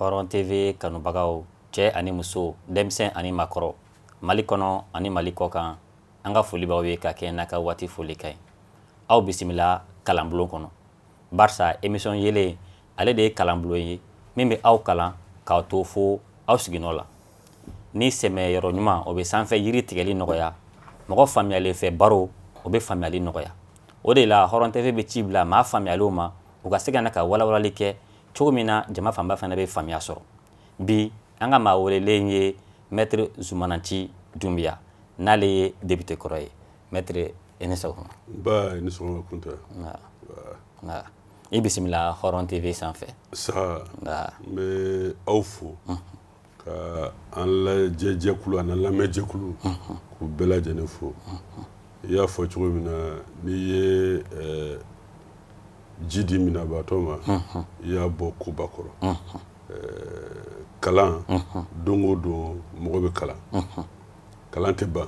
hɔrɔn tv kanubagaw cɛ ani muso denmisɛn ani makɔrɔ mali kɔnɔ ani mali kɔkan an ka foli b'aw ye ka kɛɲɛ n'a ka waati foli ka ɲi aw bisimila kalanbulon kɔnɔ barisa emisɔn yeelen ale de ye kalanbulon ye min bɛ aw kalan k'aw to fo aw siginɔ la ni sɛmɛyɔrɔ ɲuman o bɛ sanfɛ yiri tigɛli nɔgɔya mɔgɔ faamuyalen fɛ baro o bɛ faamuyali nɔgɔya o de la hɔrɔn tv bɛ ci bila maa faamuyalenw ma u ka se ka na ka walawalali kɛ cogo min na jama fanba fana bɛ faamuya sɔrɔ bi an ka maa welelen ye mɛtiri zumana nci dunbiya n'ale ye depite kɔrɔ ye mɛtiri i ni sɔgɔma nba i ni sɔgɔma kunta nba i bisimila hɔrɔn tv sanfɛ saha n bɛ aw fo ka an lajɛ jɛkulu an lamɛn jɛkulu k'u bɛɛ lajɛlen fo i y'a fɔ cogo min na n'i ye eh, ji di minabaatɔ ma i y'a bɔ koba kɔrɔ eh, kalan don o don mɔgɔ bɛ kalan kalan tɛ ban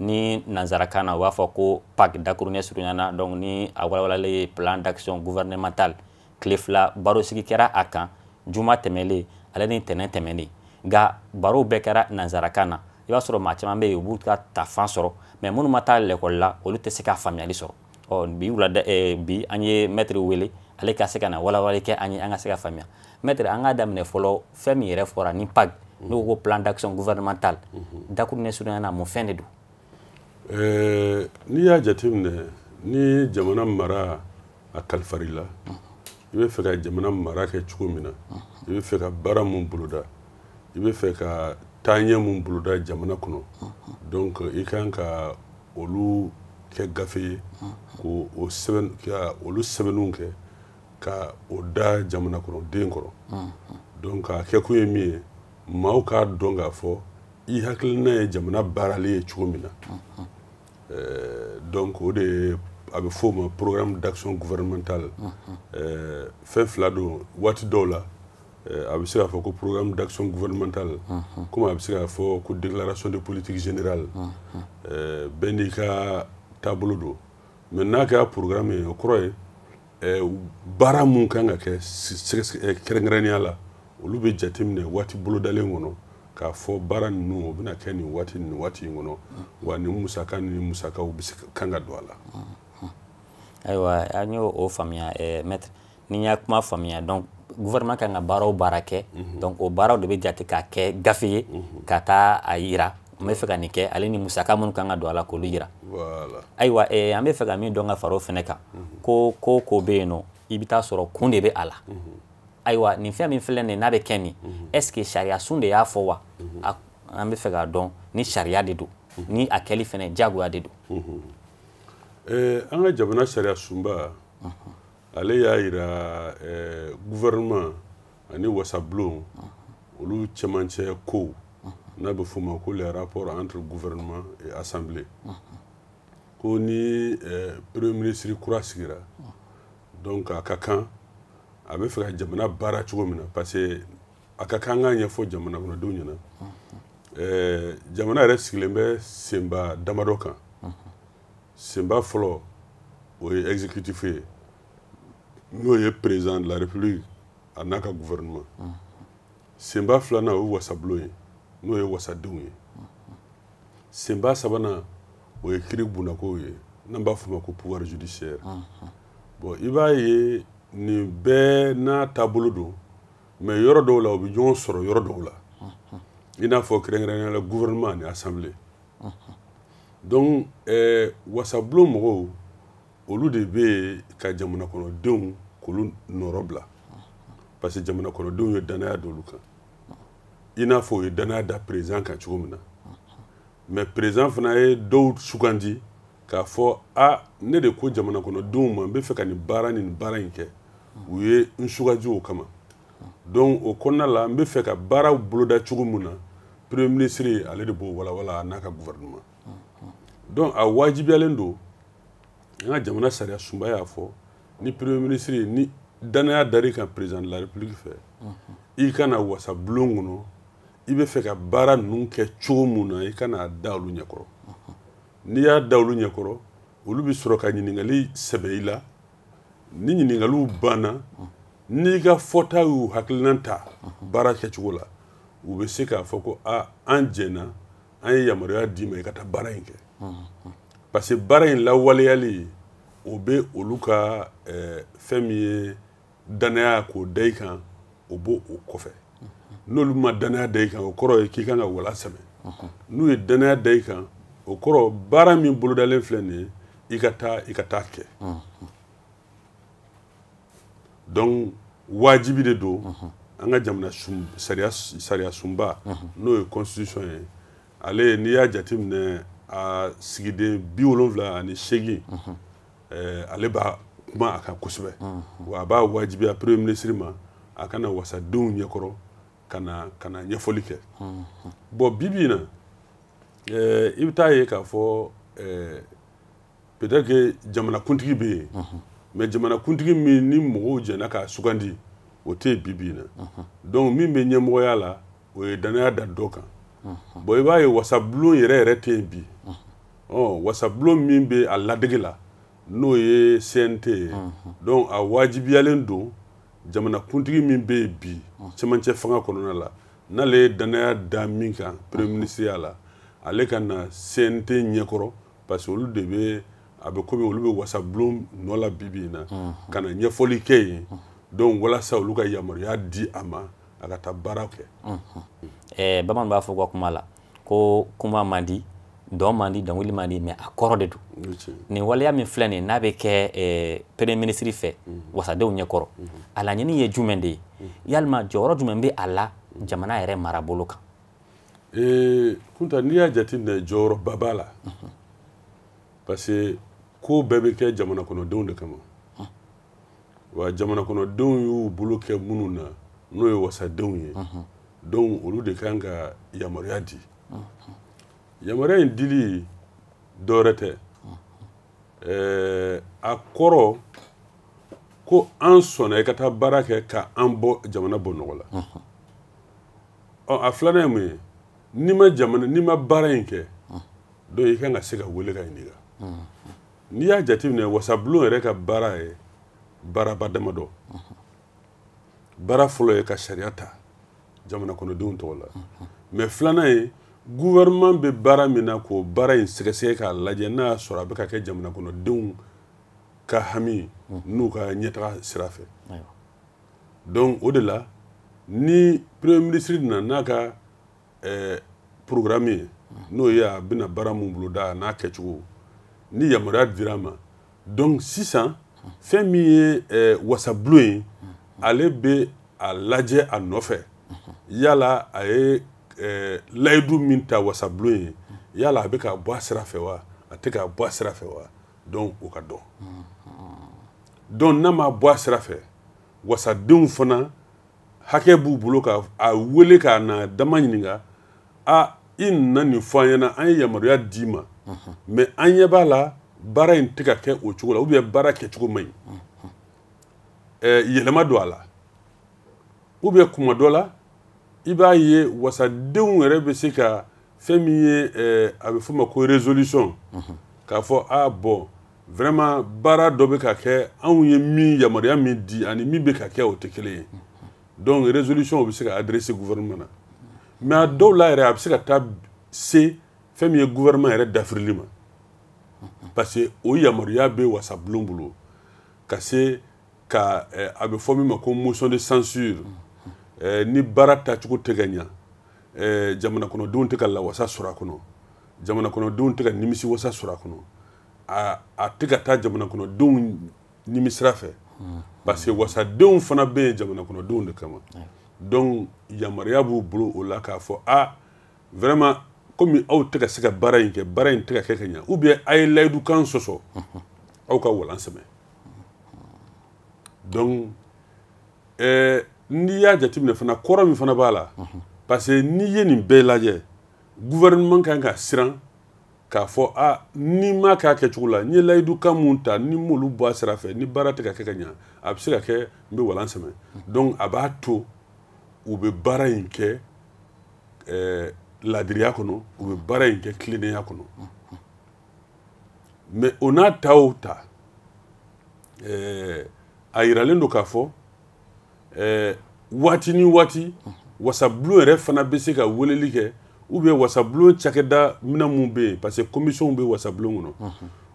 ni nanzarakan na u b'a fɔ ko pag dakurunin surunya na donc ni a walawalalen ye plan d'action gouvernemental tile fila barosigi kɛra a kan juma tɛmɛlen ale ni tɛnɛn tɛmɛnen nka barow bɛɛ kɛra nanzarakan na i b'a sɔrɔ maa caman bɛ yen u b'u ka ta fan sɔrɔ mais minnu ma taa lɛkɔli la olu tɛ se ka faamuyali sɔrɔ ɔ bi wulada eh, bi an ye mɛtiri wele ale ka se ka na walawalali kɛ an ye an ka se ka faamuya mɛtiri an k'a daminɛ fɔlɔ fɛn min yɛrɛ fɔra ni pag mhm. n'o ko plan d'action gouvernemental mhm. dakurunin surunya na mun fɛn de don eh, n'i y'a jateminɛ ni jamana mara a kalifara i la mhm. i bɛ fɛ ka jamana mara kɛ cogo min na i bɛ fɛ ka baara mun boloda i bɛ fɛ ka taaɲɛ mun boloda jamana kɔnɔ donc i kan ka olu kɛ gafe ye ka olu sɛbɛnniw kɛ ka o da jamana kɔnɔ den kɔrɔ donc a kɛ kun ye min ye maaw k'a dɔn k'a fɔ i hakilina ye jamana baarali ye cogo min na euh, donc o de ye a bɛ f'o ma programme d'action gouvernementale euh, fɛn fila don waati dɔw la eh, a bɛ se k'a fɔ ko programme d'action gouvernementale comme a bɛ se k'a fɔ ko déclaration de politique générale eh, bɛɛ n'i ka taabolo don mais n'a kɛra programme ye o kɔrɔ ye eh, baara mun kan ka kɛ kɛrɛnkɛrɛnnenya la olu bɛ jateminɛ waati bolodalen kɔnɔ k'a fɔ baara ninnu o bɛna kɛ nin waati nin waati in kɔnɔ wa nin musaka ni musakaw bɛ se kan ka don a la ayiwa an y'o faamuya maître ni n y'a kuma faamuya donc gouvernement kan ka baara o baara kɛ mhm. donc o baaraw de bɛ jate k'a kɛ gafe ye mhm. ka taa a yira n bɛ fɛ ka nin kɛ ale ni musaka minnu kan ka don a la k'olu yira ayiwa eh, an bɛ fɛ ka min dɔn ka fara o fɛnɛ kan mhm. ko ko o ko bɛ yen nɔ i bɛ taa sɔrɔ kun de bɛ a la ayiwa nin fɛn min filɛ nin ye n'a bɛ kɛ nin est ce que sariya sun de y'a fɔ wa an bɛ fɛ k'a dɔn ni sariya de don ni a kɛli fɛnɛ jagoya de don eh, an ka jamana sariya sunba ale y'a yira eh, gouvernement ani wasabulon olu cɛmancɛ kow n'a bɛ f'o ma ko les rapports entre gouvernement et assemblée ko ni eh, premier ministre kura sigira donc a ka kan a bɛ fɛ ka jamana baara cogo min na parce que a ka kan k'a ɲɛfɔ jamana kɔnɔdenw ɲɛna eh, jamana yɛrɛ sigilen bɛ senba damadɔ kan senba fɔlɔ o ye exécutif ye n'o ye président de la république a n'a ka gouvernement senba filanan o ye wasabulon ye n'o ye wasadenw ye senba sabanan o ye kiiri bunako ye n'an b'a f'o ma ko pouvoir judiciaire bon i b'a ye nin bɛɛ n'a taabolo don mais yɔrɔ dɔw la u bɛ ɲɔgɔn sɔrɔ yɔrɔ dɔw la i n'a fɔ kɛrɛnkɛrɛnnenya la gouvernement ani assemblée donc eh, wasabulon mɔgɔw olu de bɛ yen ka jamanakɔnɔdenw k'olu nɔrɔ bila parce que jamanakɔnɔdenw ye dannaya d'olu kan i n'a fɔ u ye dannaya da président kan cogo min na mais président fana ye dɔw sugandi k'a fɔ a ne de ko jamanakɔnɔdenw ma n bɛ fɛ ka nin baara ni nin baara in kɛ u ye n sugandi o kama donc o kɔnɔna la n bɛ fɛ ka baaraw boloda cogo min na premier ministre ale de b'o walawala a n'a ka gouvernement donc a wajibiyalen don an ka jamana sariya sunba y'a fɔ ni premier ministre ni dannaya dar'i kan président de la république fɛ i ka na wasabulon kɔnɔ i bɛ fɛ ka baara ninnu kɛ cogo min na i ka na a da olu ɲɛkɔrɔ n'i y'a da olu ɲɛkɔrɔ olu bɛ sɔrɔ ka ɲininkali sɛbɛ i la ni ɲininkaliw banna n'i ka fɔta y'u hakilinan ta baara kɛcogo la u bɛ se k'a fɔ ko a an jɛnna an ye yamaruya d'i ma i ka taa baara in kɛ parce que baara in lawaleyali o bɛ olu ka eh, fɛn min ye dannaya k'o da i kan o b'o o kɔfɛ n'olu ma dannaya da i kan o kɔrɔ ye k'i kan ka wala sɛmɛ n'u ye dannaya da i kan o kɔrɔ baara min bolodalen filɛ nin ye i ka taa i ka taa kɛ donc wajibi de don an ka jamana sariya sunba n'o ye constitution ye ale n'i y'a jateminɛ a sigiden bi wolonwula ani seegin mhm. eh, ale b'a kuma a kan kosɛbɛ mhm. wa a b'a wajibiya premier ministre ma a ka na wasadenw ɲɛkɔrɔ ka na ka na ɲɛfɔli kɛ mhm. bon bibi in na eh, i bɛ taa ye k'a fɔ eh, peut-être que jamanakuntigi bɛ yen mais jamanakuntigi min ni mɔgɔw jɛnna k'a sugandi o tɛ yen bibi in na donc min bɛ ɲɛmɔgɔya la o ye dannaya da dɔ kan bon i b'a ye wasabulon yɛrɛ yɛrɛ tɛ yen bi wasabulon min bɛ a ladege la n'o ye CNT ye donc a wajibiyalen don jamanakuntigi min bɛ yen bi cɛmancɛ fanga kɔnɔna la n'ale ye dannaya da min kan premier ministreya la ale ka na CNT ɲɛkɔrɔ parce que olu de bɛ a bɛ komi olu bɛ wasabulon nɔ la bibi in na ka na ɲɛfɔli kɛ yen donc walasa olu ka yamaruya di a ma a ka taa baara kɛ eh, bamanan b'a fɔ ka kuma la ko kuma man di dɔn man di dɔnkili man di mais a kɔrɔ de don nin waleya min filɛ nin n'a bɛ kɛ eh, premier ministre fɛ mhm. wasadenw ɲɛkɔrɔ mhm. a laɲini ye jumɛn de ye mhm. yalima jɔyɔrɔ jumɛn bɛ a la jamana yɛrɛ marabolo kan eh, kunta n'i y'a jateminɛ jɔyɔrɔba b'a la parce que ko bɛɛ bɛ kɛ jamana kɔnɔdenw de kama wa jamana kɔnɔdenw y'u bolo kɛ minnu na n'o ye wasadenw ye donc olu de kan ka yamaruya di yamaruya in dili dɔwɛrɛ tɛ ɛɛ a kɔrɔ ko an sɔnna i ka taa baara kɛ ka an bɔ jamana bɔ nɔgɔ la ɔ a filanan ye mun ye n'i ma jamana n'i ma baara in kɛ donc i kan ka se ka wele ka ɲininka n'i y'a jateminɛ wasabulon yɛrɛ ka baara ye baaraba damadɔ baara fɔlɔ ye ka sariya ta jamana kɔnɔdenw tɔgɔ la mais filanan ye gouvernement bɛ baara min na k'o baara in sɛgɛsɛgɛ k'a lajɛ n'a y'a sɔrɔ a bɛ ka kɛ jamana kɔnɔdenw ka hami n'u ka ɲɛtaga sira fɛ donc o de la ni premier ministre nana n'a ka ɛɛ programme ye n'o ye a bɛna baara mun boloda an'a kɛcogo ni yamaruya dira a ma donc sisan fɛn min ye ɛɛ wasabulon ye ale bɛ a lajɛ a nɔfɛ yala a ye ɛɛ layidu min ta wasabulon ye yala a bɛ ka bɔ a sira fɛ wa a tɛ ka bɔ a sira fɛ wa donc o ka dɔn donc n'a ma bɔ a sira fɛ wasadenw fana hakɛ b'u bolo ka a wele k'a na dama ɲininka a i nana nin fɔ an ɲɛna an ye yamaruya d'i ma mais an ɲɛ b'a la baara in tɛ ka kɛ o cogo la ou bien baara kɛcogo man ɲi yɛlɛma don a la ou bien kuma dɔ la i b'a ye wasadenw yɛrɛ bɛ se ka fɛn min ye eh, a bɛ f'o ma ko résolution mhm. k'a fɔ a ah, bon vraiment baara dɔ bɛ ka kɛ anw ye min yamaruya min di ani min bɛ ka kɛ o tɛ kelen ye donc résolution o bɛ se ka adresser gouvernement na mais a dɔw la yɛrɛ a bɛ se ka taa se fɛn min ye gouvernement yɛrɛ dafirili ma parce que o yamaruya bɛ wasabulon bolo ka se ka eh, a bɛ fɔ min ma ko motion de censure eh, ni baara tacogo tɛ ka ɲa eh, jamana kɔnɔdenw tɛ ka lawasa sɔrɔ a kɔnɔ jamana kɔnɔdenw tɛ ka nimisiwasa sɔrɔ a kɔnɔ a a tɛ ka taa jamana kɔnɔdenw nimisira fɛ hmm. parce que wasadenw fana bɛ yen jamana kɔnɔdenw de kama donc yamaruya b'u bolo o la k'a fɔ a ah, vraiment komi aw tɛ ka se ka baara in kɛ baara in tɛ ka kɛ ka ɲa ou bien a ye layidukan sɔsɔ aw ka walan sɛmɛ donc ɛɛ n'i y'a jateminɛ fana kɔrɔ min fana b'a la parce que n'i ye nin bɛɛ lajɛ gouvernement kan ka siran k'a fɔ a ni n m'a k'a kɛcogo la n ye layidukan mun ta ni n m'olu bɔ a sira fɛ ni baara tɛ ka kɛ ka ɲa a bɛ se ka kɛ n bɛ walan sɛmɛ donc a b'a to u bɛ baara in kɛ ɛɛ laadiriya kɔnɔ u bɛ baara in kɛ tilennenya kɔnɔ mais o n'a ta o ta ɛɛ a yiralen don k'a fɔ ɛɛ waati ni waati wasabulon yɛrɛ fana bɛ se ka weleli kɛ ou bien wasabulon cakɛda minɛn minnu bɛ yen parce que commission bɛ wasabulon kɔnɔ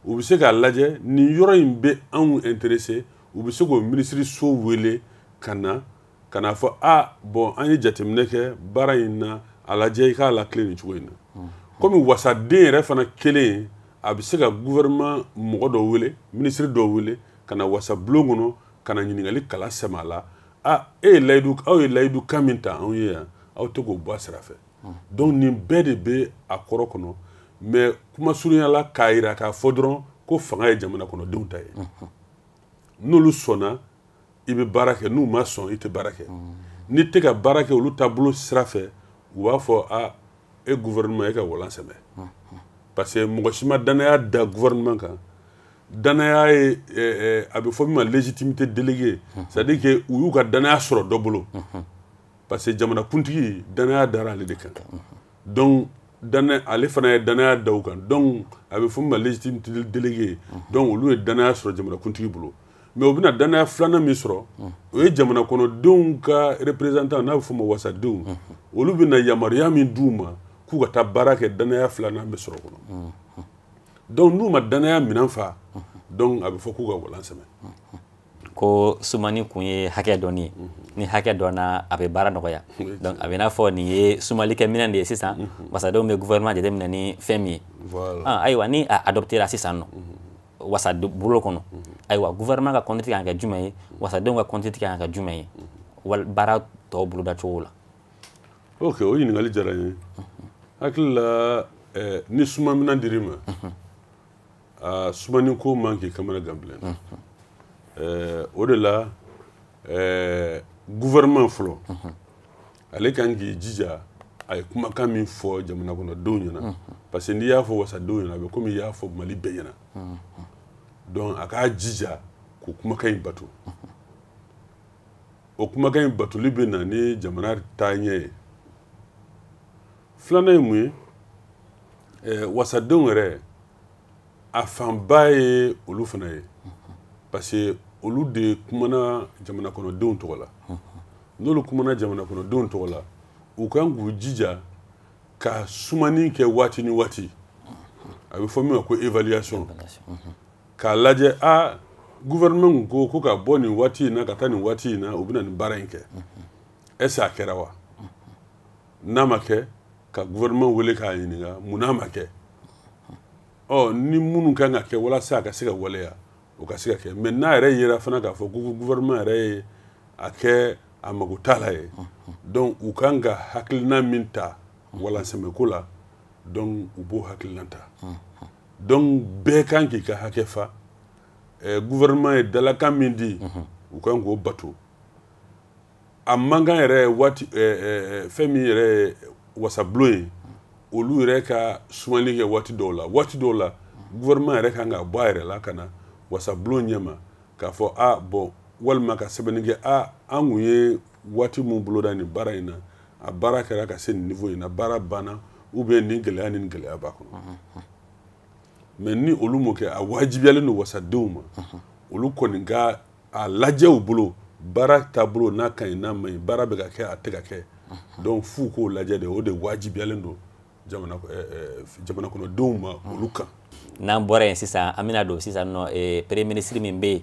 u bɛ se k'a lajɛ nin yɔrɔ in bɛ anw intéresser u bɛ se k'o minisiriso wele ka na ka n'a fɔ a bon an ye jateminɛ kɛ baara in na a lajɛ i k'a latilen nin cogo in na hmm. komi wasaden yɛrɛ fana kelen a bɛ se ka gouvernement mɔgɔ dɔ wele minisiri dɔ wele ka na wasabulon kɔnɔ ka na ɲininkali kala sɛmɛ a la a e ye layidu aw ye layidukan min ta anw ye yan aw tɛ k'o bɔ a sira fɛ hmm. donc nin bɛɛ de bɛ a kɔrɔ kɔnɔ mais kuma surunya la k'a jira k'a fɔ dɔrɔn ko fanga ye jamana kɔnɔdenw ta ye hmm. n'olu sɔnna i bɛ baara kɛ n'u ma sɔn i tɛ baara kɛ n'i tɛ ka baara kɛ olu taabolo sira fɛ u b'a fɔ a e gouvernement e ka walan sɛmɛ parce que mɔgɔ si ma danaya da gouvernement kan danaya ye eh, eh, a bɛ fɔ min ma légitimité déléguée c'est à dire que u y'u ka danaya sɔrɔ dɔ bolo parce que jamana kuntigi danaya dara ale de kan donc danaya ale fana ye danaya da u kan donc a bɛ fɔ min ma légitimité déléguée donc olu ye danaya sɔrɔ jamana kuntigi bolo mais u bɛna dannaya filanan min sɔrɔ o ye jamana kɔnɔdenw ka représentant n'a bɛ f'o ma wasadenw olu bɛna yamaruya min d'u ma k'u ka taa baara kɛ dannaya filanan bɛ sɔrɔ kɔnɔ donc n'u ma dannaya minɛn fa donc a bɛ fɔ k'u ka walan sɛmɛ ko sumani kun ye hakɛ dɔnni ye ni hakɛ dɔnna a bɛ baara nɔgɔya donc a bɛ n'a fɔ nin ye sumalikɛ minɛn de ye sisan wasadenw bɛ gouvernement jateminɛ ni fɛn min ye ayiwa ni a adoptera sisan nɔ wasabulon kɔnɔ ayiwa gouvernement ka conduite kan ka kɛ jumɛn ye wasadenw ka conduite kan ka kɛ jumɛn ye wal baara tɔw boloda cogo la ok o ɲininkali diyara n ye hakili la eh, ni suma minan dir'i ma a sumani ko man k'i kamanagan bilen eh, o de la eh, gouvernement fɔlɔ ale kan k'i jija a ye kumakan min fɔ jamana kɔnɔdenw ɲɛna mhm. parce que n'i y'a fɔ wasadenw ɲɛna a bɛ komi i y'a fɔ mali bɛɛ ɲɛna mhm. donc a k'a jija k'o kumakan in bato mhm. o kumakan in batoli bɛ na ni jamana taaɲɛ ye filanan ye mun ye eh, wasadenw yɛrɛ a fanba ye olu fana ye parce que olu de kumana jamanakɔnɔdenw tɔgɔ la n'olu kumana jamanakɔnɔdenw tɔgɔ la u kan k'u jija ka sumani kɛ waati ni waati a bɛ fɔ min ma ko évaluation k'a lajɛ a gouvernement ko ko ka bɔ nin waati in na ka taa nin waati in na u bɛna nin baara in kɛ est ce que a kɛra wa n'a ma kɛ ka gouvernement wele k'a ɲininka mun n'a ma kɛ ɔ ni minnu kan ka kɛ walasa a ka se ka waleya o ka se ka kɛ mais n'a yɛrɛ yera fana k'a fɔ ko gouvernement yɛrɛ ye a kɛ a mago t'a la ye donc u kan ka hakilina min ta walansɛmɛko la donc u b'o hakilina ta donc bɛɛ kan k'i ka hakɛ fa eh, gouvernement ye dalakan min di u kan k'o bato a man kan yɛrɛ waati fɛn min yɛrɛ ye wasabulon ye olu yɛrɛ ka sumali kɛ waati dɔw la waati dɔw la gouvernement yɛrɛ kan ka bɔ a yɛrɛ la ka na wasabulon ɲɛma k'a fɔ a bon walima ka sɛbɛnni kɛ a an kun ye waati min boloda nin baara in na a baara kɛra ka se nin niveau in na baara banna ou bien nin gɛlɛya ni nin gɛlɛya b'a kɔnɔ mais ni olu m'o kɛ a wajibiyalen don wasadenw ma olu kɔni ka a lajɛ u bolo baara taabolo n'a ka ɲi n'a man ɲi baara bɛ ka kɛ a tɛ ka kɛ donc f'u k'o lajɛ de o de wajibiyalen don jamana eh, eh, jamana kɔnɔdenw ma olu kan n'an bɔra yen sisan an bɛna don sisan nɔ eh, premier ministre min bɛ yen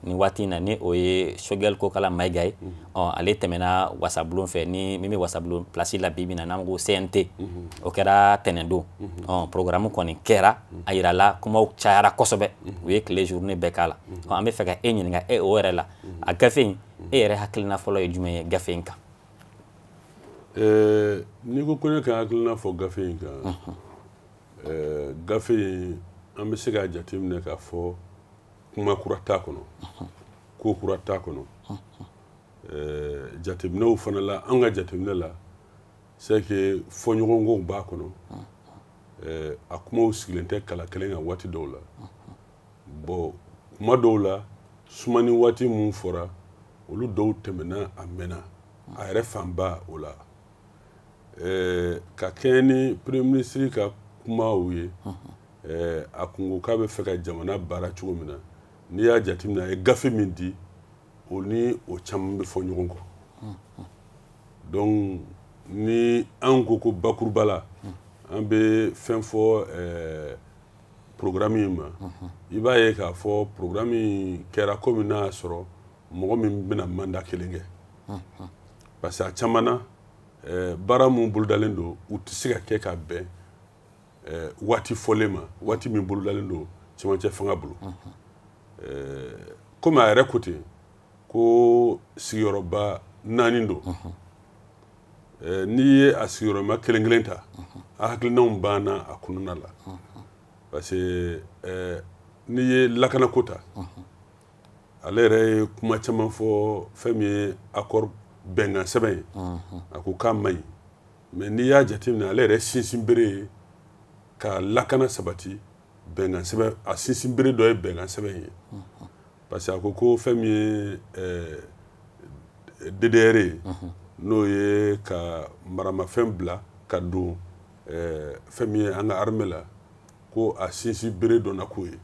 nin waati in na ni o ye choguel kokala mayiga ye ɔ ale tɛmɛna wasabulon fɛ ni min bɛ wasabulon pilasi la bi bi in na n'an ko cnt o kɛra tɛnɛndon ɔ programme kɔni kɛra a yirala kumaw cayara kosɛbɛ u ye tile journée bɛɛ k'a la ɔ an bɛ fɛ ka e ɲininka eh, o yɛrɛ la a gafe in e yɛrɛ hakilina fɔlɔ ye jumɛn ye gafe in kan eh, n'i ko ko ne ka hakilina fɔ gafe in kan eh, gafe in an bɛ se k'a jateminɛ k'a fɔ kuma kura t'a kɔnɔ ko kura t'a kɔnɔ eh, jateminɛw fana la an ka jateminɛ la c'est que fɔɲɔgɔnkɔw b'a kɔnɔ eh, a kumaw sigilen tɛ kala kelen kan waati dɔw la bon kuma dɔw la sumani waati minnu fɔra olu dɔw tɛmɛna a mɛnna a yɛrɛ fanba o la eh, ka kɛɲɛ ni premier ministre ka kumaw ye eh, a kun ko k'a bɛ fɛ ka jamana baara cogo min na n'i y'a jateminɛ a ye gafe min di o ni o caman bɛ fɔ ɲɔgɔn kɔ donc ni an ko ko bakuruba la an bɛ fɛn fɔ ɛɛ programme in ma i b'a ye k'a fɔ programme in kɛra komi n'a y'a sɔrɔ mɔgɔ min bɛna mandat kelen kɛ parce que a caman na ɛɛ baara minnu bolodalen don u tɛ se ka kɛ ka bɛn ɛɛ waati fɔlen ma waati min bolodalen don cɛmancɛ fanga bolo ɛɛ komi a yɛrɛ ko ten ko sigiyɔrɔba naani don ɛɛ n'i ye a sigiyɔrɔma kelen kelen ta a hakilinanw banna a kɔnɔna la parce que ɛɛ n'i ye lakanako ta ale yɛrɛ ye kuma caman fɔ fɛn min ye accord bɛnkan sɛbɛn ye a ko k'a man ɲi mais n'i y'a jateminɛ ale yɛrɛ sinsin bere ye ka lakana sabati bɛnkan sɛbɛn a sinsin bere dɔ ye bɛnkan sɛbɛn ye parce que a ko ko fɛn min ye eh, DDR ye n'o ye ka maramafɛn bila ka don eh, fɛn min ye an ka armée la ko a sinsin bere dɔ na ko ye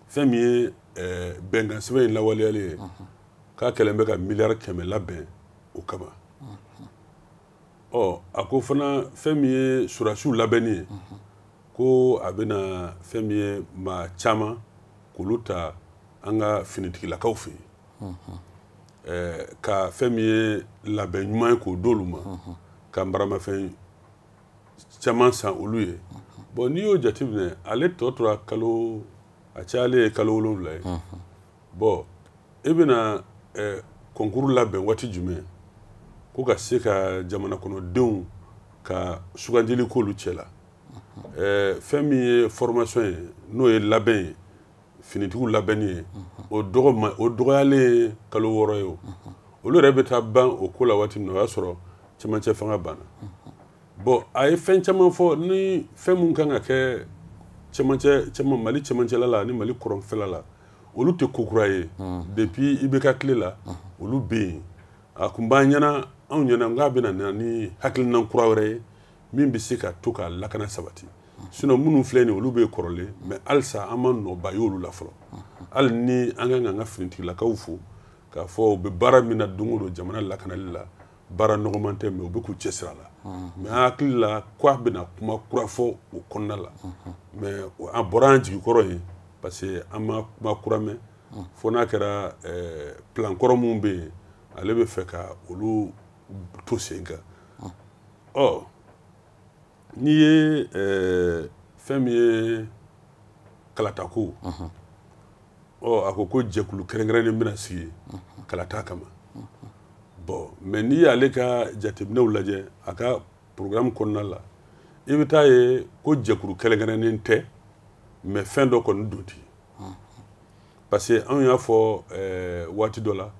fɛn min ye eh, bɛnkan sɛbɛn in lawaleyalen ye k'a kɛlen bɛ ka miliyari kɛmɛ labɛn o kama ɔ a ko fana fɛn min ye surasiw labɛnni ye ko a bɛna fɛn min ye maa caman k'olu ta an ka finitigilakaw fɛ yen eh, ka fɛn min ye labɛn ɲuman ye k'o d'olu ma ka maramafɛn caman san olu ye bon n'i y'o jateminɛ ale tɔ tora kalo a cayalen ye kalo wolonwula ye bon e bɛna eh, concours labɛn waati jumɛn ko ka se ka jamana kɔnɔdenw ka sugandili k'olu cɛ la eh, fɛn min ye formation ye n'o ye labɛn ye finitigiw labɛnni ye o dɔgɔ o dɔgɔyalen ye kalo wɔɔrɔ ye o olu yɛrɛ bɛ taa ban o ko la waati min na o y'a sɔrɔ cɛmancɛ fanga banna bon a ye fɛn caman fɔ ni fɛn min kan ka kɛ cɛmancɛ cɛman mali cɛmancɛla la ani mali kɔrɔnfɛla la olu tɛ ko kura ye depuis IBK tile la olu bɛ yen a kun b'an ɲɛna anw ɲɛna k'a bɛna na ni hakilina kura wɛrɛ ye min bɛ se ka to ka lakana sabati sinon minnu filɛ nin olu bɛ kɔrɔlen mais halisa an ma nɔba y'olu la fɔlɔ hali ni an ka kan ka an ka finitigilakaw fo k'a fɔ u bɛ baara min na don o don jamana lakanali la baara nɔgɔman tɛ mais u bɛ k'u cɛsiri a la mais an hakili la k'a bɛna kuma kura fɔ o kɔnɔna la mais an bɔra an jigi kɔrɔ yen parce que an ma kuma kura mɛn fo n'a kɛra eh, plan kɔrɔ minnu bɛ yen ale bɛ fɛ ka olu to sen kan ɔ n'i ye eh, fɛn min ye kalatako ɔ a ko ko jɛkulu kɛrɛnkɛrɛnnen bɛna sigi kalata kama bon mais n'i y'ale ka jateminɛw lajɛ a ka programme kɔnɔna la i bɛ taa ye ko jɛkulu kɛrɛnkɛrɛnnen tɛ mais fɛn dɔ kɔni don ten parce que anw y'a fɔ eh, waati dɔ la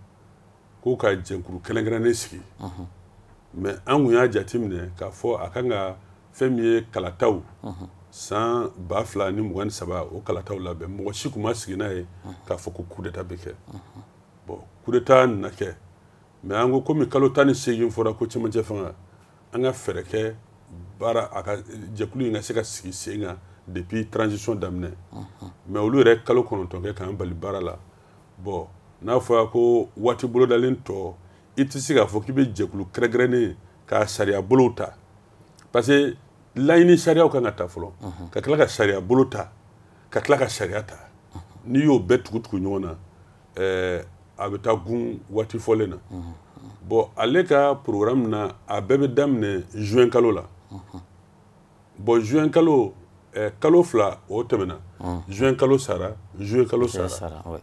ko ka jɛkulu kɛrɛnkɛrɛnnen sigi mais an kun y'a jateminɛ k'a fɔ a kan ka fɛn min ye kalataw san ba fila ni mugan ni saba o kalataw labɛn mɔgɔ si kun ma sigi n'a ye k'a fɔ ko coup d'état bɛ kɛ bon coup d'état nana kɛ mais an ko komi kalo tan ni seegin fɔra ko cɛmancɛ fanga an ka fɛɛrɛ kɛ baara a ka jɛkulu in ka se ka sigi sen kan depuis transition daminɛ mais olu yɛrɛ kalo kɔnɔntɔn kɛ k'an bali baara la bon n'a fɔra ko waati bolodalen tɔ i tɛ se k'a fɔ k'i bɛ jɛkulu kɛrɛnkɛrɛnnen ka sariya bolow ta parce que laɲini sariyaw kan ka ta fɔlɔ mhm. ka tila ka sariya bolo ta ka tila ka sariya ta mhm. n'i y'o bɛɛ tugutugu ɲɔgɔn na eh, a bɛ taa gun waati fɔlen na mhm. bon ale ka programme na a bɛɛ bɛ daminɛ juin kalo la bon juin kalo eh, kalo fila o tɛmɛna mm. juin kalo sara juillet kalo sara, sara ouais.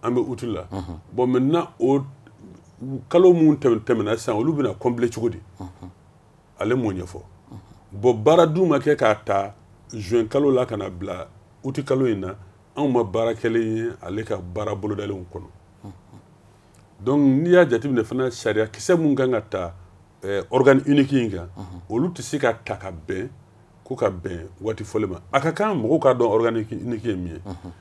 an bɛ août la mm -hmm. bon maintenant o kalo minnu tɛmɛna sisan olu bɛna combler cogo di mm -hmm. ale m'o ɲɛfɔ mm -hmm. bon baara dun ma kɛ k'a ta juin kalo la ka na bila août kalo in na anw ma baara kɛlen ye ale ka baara bolodalenw kɔnɔ donc n'i y'a jateminɛ fana sariya kisɛ mun kan ka ta eh, organe unique in kan mhm. olu tɛ se ka ta ka bɛn ko ka bɛn waati fɔlen ma a ka kan mɔgɔw k'a dɔn organe unique ye min ye mhm.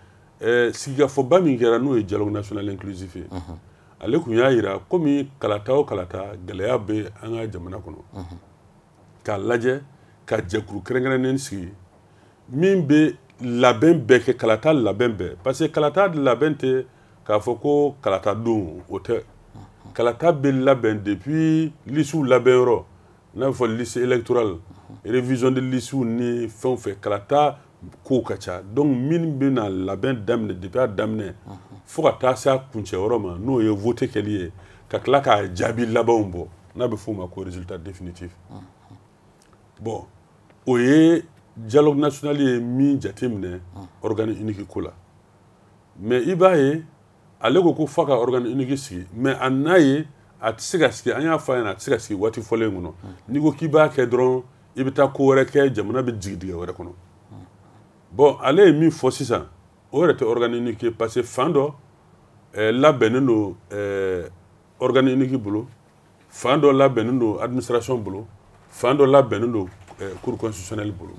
eh, sigikafɔba min kɛra n'o ye dialogue national inclusif ye mhm. ale kun y'a jira komi kalata o kalata gɛlɛya bɛ an ka jamana kɔnɔ k'a lajɛ ka jɛkulu kɛrɛnkɛrɛnnen sigi min bɛ labɛn bɛɛ kɛ kalata labɛn bɛɛ parce que kalata labɛn tɛ k'a fɔ ko kalata don o tɛ kalata bɛ labɛn depuis lisiw labɛnyɔrɔ n'a bɛ fɔ liste électorale révision de lisiw ni fɛn o fɛn kalata kow ka ca donc min bɛna labɛn daminɛ depuis a daminɛ fo ka taa se a kuncɛyɔrɔ ma n'o ye vote kɛli ye ka tila k'a jaabi labanw bɔ n'a bɛ f'o ma ko résultat définitif bon o ye dialogue national ye min jateminɛ organe unique ko la mais i b'a ye ale ko ko f'a ka organe unique sigi mais a n'a ye a tɛ se ka sigi an y'a fɔ a ɲɛna a tɛ se ka sigi waati fɔlen kɔnɔ n'i ko k'i b'a kɛ dɔrɔn i bɛ taa ko wɛrɛ kɛ jamana bɛ jigin dingɛ wɛrɛ kɔnɔ bon ale ye min fɔ sisan o yɛrɛ tɛ organe unique ye parce que fan dɔ ɛɛ eh, labɛnnen don ɛɛ eh, organe unique bolo fan dɔ labɛnnen don administration bolo fan dɔ labɛnnen don eh, cour constitutionnelle bolo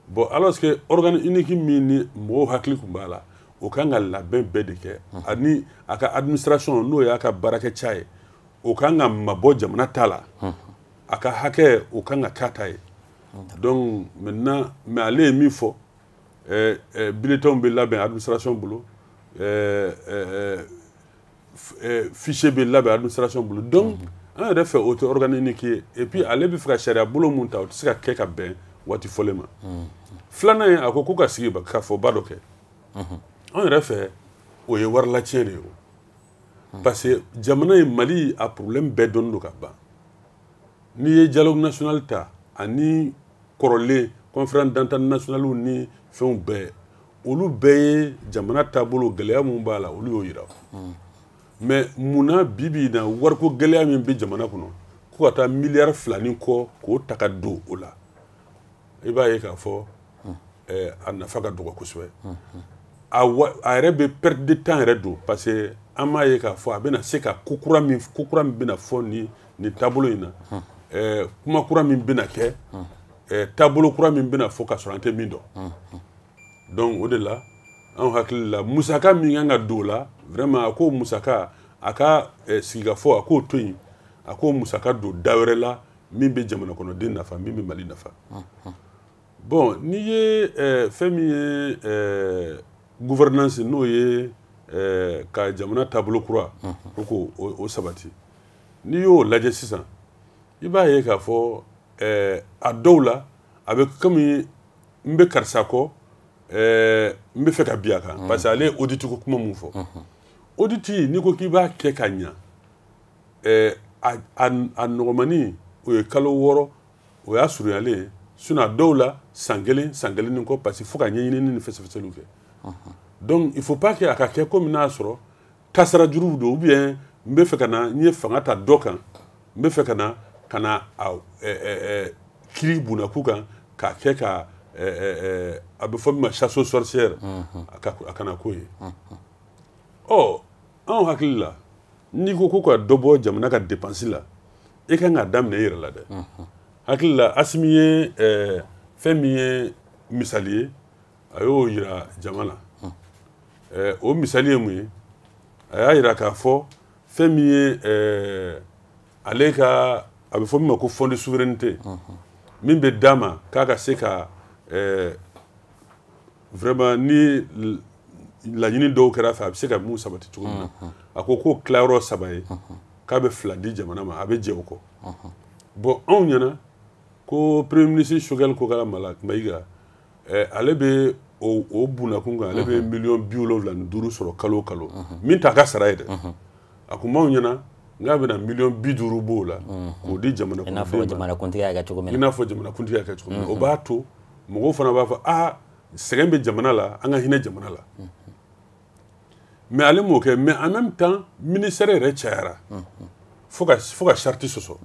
bon alors que organe unique min ni mɔgɔw hakili tun b'a la o kan ka labɛn bɛɛ de kɛ ani a ka administration n'o y'a ka baarakɛ ca ye o kan ka mabɔ jamana ta la a ka hakɛ o kan ka k'a ta ye donc maintenant mais ale ye min fɔ eh, eh, bulletinw bɛ labɛn administration bolo eh, eh, eh, eh, fichier bɛ labɛn administration bolo donc an yɛrɛ fɛ o tɛ organe unique ye et puis ale bɛ fɛ ka sariya bolo mun ta o tɛ se ka kɛ ka bɛn waati fɔlen ma filanan ye a ko ko ka sigikafɔba dɔ kɛ an yɛrɛ fɛ o ye warilatiɲɛ de ye o parce que jamana ye mali a problème bɛɛ dɔnnen don ka ban n'i ye dialogue national ta ani kɔrɔlen conférence d'entente nationale ni fɛnw bɛɛ olu bɛɛ ye jamana taabolo gɛlɛya min b'a la olu y'o yira mais mun na bi bi in na wariko gɛlɛya min bɛ jamana kɔnɔ ko ka taa miliyari fila ni kɔ k'o ta ka don o la i b'a ye k'a fɔ eh, a nafa ka dɔgɔ kosɛbɛ a wa- a yɛrɛ bɛ perte de temps yɛrɛ don parce que an m'a ye k'a fɔ a bɛna se ka ko kura min ko kura min bɛna fɔ nin nin taabolo in na eh, kuma kura min bɛna kɛ eh, taabolo kura min bɛna fɔ k'a sɔrɔ an tɛ min dɔn donc o de la anw hakili la musaka min kan ka don o la vraiment a k'o musaka a ka eh, sigikafɔ a k'o to yen a k'o musaka don da wɛrɛ la min bɛ jamana kɔnɔden nafa min bɛ mali nafa bon n'i ye eh, fɛn min ye eh, gouvernance n'o ye eh, ka jamana taabolo kura ko ko o, o sabati n'i y'o lajɛ sisan i b'a ye k'a fɔ eh, a dɔw la a bɛ komi n bɛ karisa kɔ eh, n b'a fɛ ka bin a kan mm. parce que ale ye audit ko kuma min fɔ mm-hmm. audit n'i ko k'i b'a kɛ ka ɲa eh, a a a nɔgɔmani o ye kalo wɔɔrɔ o y'a surunyalen ye sinon a dɔw la san kelen san kelen ni kɔ parce que fo ka ɲɛɲinini ni fɛsɛfɛsɛliw kɛ mm-hmm. donc il faut pas que a ka kɛ komi n'a sɔrɔ tasara juruw don ou bien n bɛ fɛ ka na n ye fanga ta dɔ kan n bɛ fɛ ka na ka na a kiri bunakun kan k'a kɛ ka a bɛ fɔ min ma chasse aux sorcières a kana k'o ye ɔ anw hakili la n'i ko ko ka dɔ bɔ jamana ka dépense la i kan k'a daminɛ i yɛrɛ la dɛ hakili la asimi ye fɛn min ye misali ye a y'o yira jama la ɛɛ o misali ye mun ye a y'a yira k'a fɔ fɛn min ye ɛɛ ale ka a bɛ fɔ min ma ko fond de souveraineté min bɛ d'a ma k'a ka se ka ɛɛ vraiment ni laɲini dɔw kɛr'a fɛ a bɛ se ka min sabati cogo min na a ko k'o tila yɔrɔ saba ye k'a bɛ fila di jamana ma a bɛ jɛ o kɔ bon anw ɲɛna ko premier ministre choguel kokala mayiga eh, ale bɛ o bunakun kan ale bɛ mhm. miliyɔn bi wolonwula ni duuru sɔrɔ kalo kalo mhm. min t'a ka sara ye dɛ mhm. a tun b'anw ɲɛna k'a bɛna miliyɔn bi duuru b'o la k'o di jamana kɔnɔdenw ma i n'a fɔ jamanakuntigi y'a kɛ cogo min na o b'a to mɔgɔw fana b'a fɔ aa sɛgɛn bɛ jamana la an ka hinɛ jamana la mais ale m'o kɛ mais en même temps ministère yɛrɛ cayara fo ka fo ka charte sɔsɔ